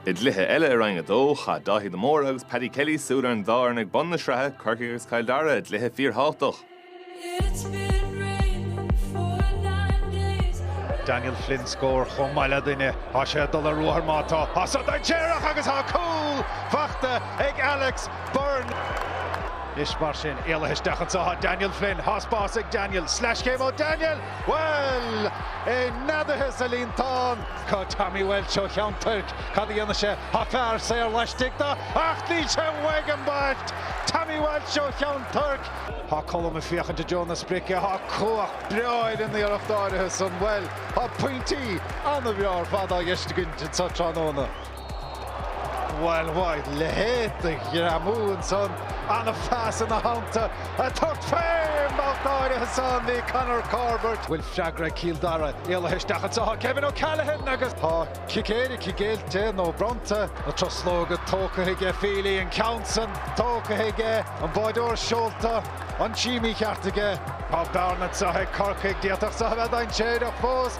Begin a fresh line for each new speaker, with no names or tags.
I gcluiche eile i Roinn 2, chaith Dáithí de Mórdha agus Paddy Kelly súil ar an dá fhoireann ag bun na sraithe, Corcaigh agus Cill Dara, i gcluiche fíorthábhachtach. Daniel Flynn scór chomh maith le duine, tá sé ag dul ar ruathar má tá, tá so dainséarach agus tá cúl faighte ag Alex Beirne. Anois mar sin, éalaithe isteach anseo, Daniel Flynn, tá spás ag Daniel, sleaschéim ó Daniel! Bhuel! É neadaithe sa líontán! Tá Tommy Walsh ó Cheann Toirc, cad a dhéanfaidh sé? Tá fear saor laistigh de ach níl sé uaidh an bheirt! Tommy Walsh ó Cheann Toirc. Tá Colm ag féachaint i dtreo na sprice, tá cumhacht breá in an iarracht áirithe san. Bhuel, tá pointí an-bhreá ar fad á dteistigint anseo tráthnóna. Bhail bhail, leithéid de ghreamú ansan, an-phas ina theannta, a tocht féin! B'alt áirithe san, ní Conor Corbett, bhfuil freagra ag Cill Dara, éalaithe isteach anseo, tá Kevin O'Callaghan agus tá cic éirice géillte nó bronnta, na truslóga tógtha aige, Feely, an ceann san tógtha aige, an báireoir seolta, an taobh mícheart aige. Tá bearna anseo ag Corcaigh, d'fhéadfadh seo a bheith dainséarach fós.